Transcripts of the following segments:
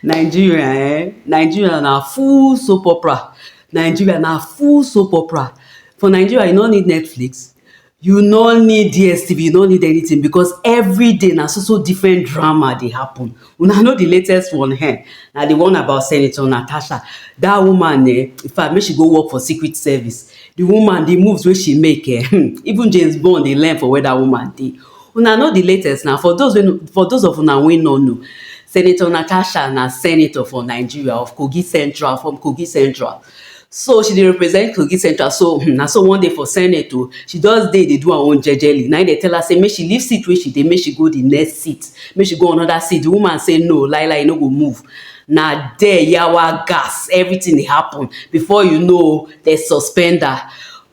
Nigeria eh, Nigeria na full soap opera, Nigeria na full soap opera. For Nigeria you no need Netflix, you no need DSTV, you no need anything because every day na so so different drama dey happen. Una know the latest one eh, na the one about Senator Natasha. That woman eh, in fact make she go work for secret service. The woman, the moves wey she make eh, even James Bond dey learn for where that woman dey. Una know di latest na, for those wey no, for those of una wey no know, Senator Natasha na senator for Nigeria of Kogi Central, from Kogi Central. So she dey represent Kogi Central, so hmm, na so one day for senate o, she just dey dey do her own jejely, na im dey tell her say make she leave seat wey she dey, make she go di next seat, make she go another seat, di woman say no, lai lai e no go move, na there yawa gas, everything dey happen, before you know, dem suspend her.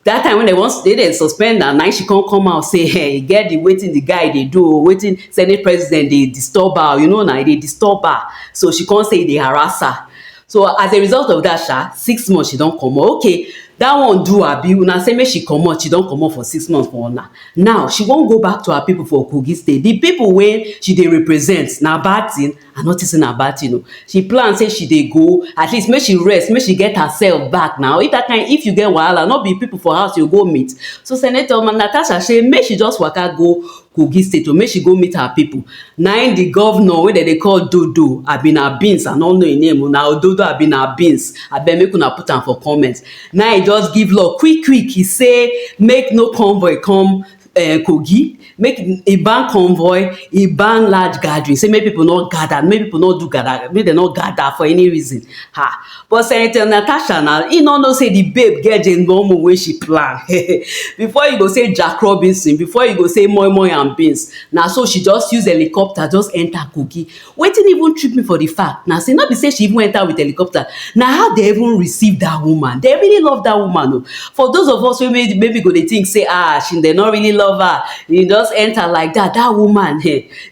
that time when they wan they dey suspend am na she come come out say hey, e get the wetin the guy dey do o wetin senate president dey disturb her you know na e dey disturb her so she come say e dey harass her so as a result of that sha six months she don comot okay that one do abi una say make she comot she don comot for six months for una now she wan go back to her people for kogi state the people wey she dey represent na bad thing I no think say na bad thing o. She plan say she dey go, at least make she rest, make she get herself back na. If that kind, if you get wahala, no be people for house you go meet. So Senator Natasha say make she just waka go Kogi State o, make she go meet her people. Na im the governor wey dem dey call Dodo abi na Beans, I no know im name o, na Ododo abi na Beans, abeg make una put am for comment. Na im e just give law quick quick, e say make no convoy come um Kogi, make e ban convoy, e ban large gathering, say make people no gather, make people no do gather, make dem no gather for any reason. Ha! But Senator Natasha now, e no know say the babe get Jane Momo wey she plan. before you go say Jack Robinson, before you go say moi moi and beans, na so she just use helicopter just enter Kogi. Wetin even trip me for the fact na say no be say she even enter with helicopter na how they even receive that woman they really love that woman o for those of us wey maybe go dey think say ah she they no really love her you just enter like that that woman um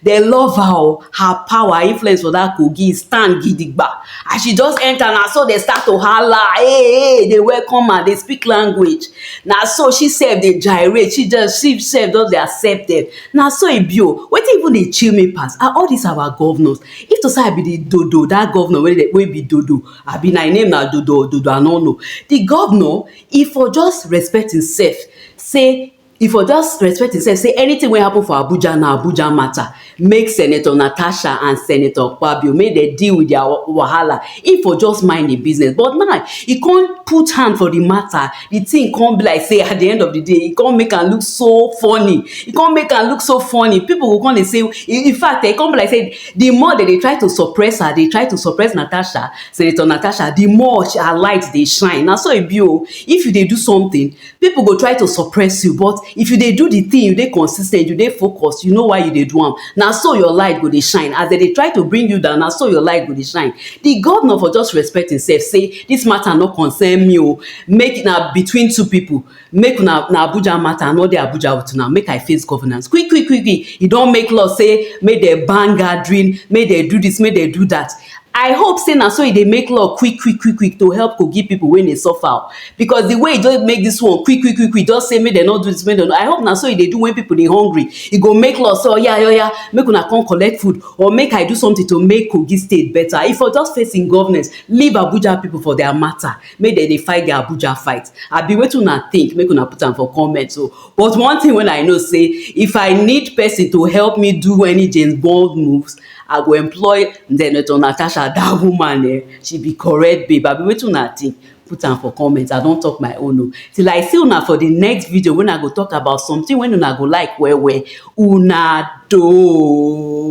they love her o her power her influence for that kogi stand gidigba as she just enter na so they start to hala hey hey they welcome her they speak language na so she sef dey gyrate she just she sef just dey accept them Na so e be o, wetin even dey chill me pass na all dis our governors, if to sey I be di dodo, dat governor wey dem wey be dodo abi na im name na dodo or dodo I nor know, di governor e for just respect im self sey, e for just respect im self sey anytin wey happen for Abuja na Abuja matter, make senator Natasha and senator Akpabio make dem deal with dia wahala, im for just mind im business but now e come put hand for di matter. the thing come be like say at the end of the day e come make am look so funny e come make am look so funny people go come dey say in fact e come be like say the more they dey try to suppress her dey try to suppress Natasha Senator Natasha the more her light dey shine na so e be o if you dey do something people go try to suppress you but if you dey do the thing you dey consistent you dey focused you know why you dey do am na so your light go dey shine as they dey try to bring you down na so your light go dey shine the governor for just respect himself say this matter no concern me o Make na between two people, make una na Abuja matter, I no dey Abuja with una, make I face governance quick quick quick quick, e don make law say make dem ban gathering, make dem do this, make dem do that. I hope say na so e dey make law quick quick quick quick to help Kogi people wey dey suffer o, because the way e just make this one quick quick quick quick just say make dem no do this, make dem no, I hope na so e dey do when people dey hungry, e go make law say oya oya make una come collect food or make I do something to make Kogi state better, e for just face im government, leave Abuja people for their matter. make dem dey fight their Abuja fight abi wetin una think make una put am for comment o oh. but one thing wey I know say if I need person to help me do any James Bond moves I go employ Senator Natasha that woman eh she be correct babe abi wetin una think put am for comment I don talk my own o oh. till I see una for the next video when I go talk about something when una go like well well una do.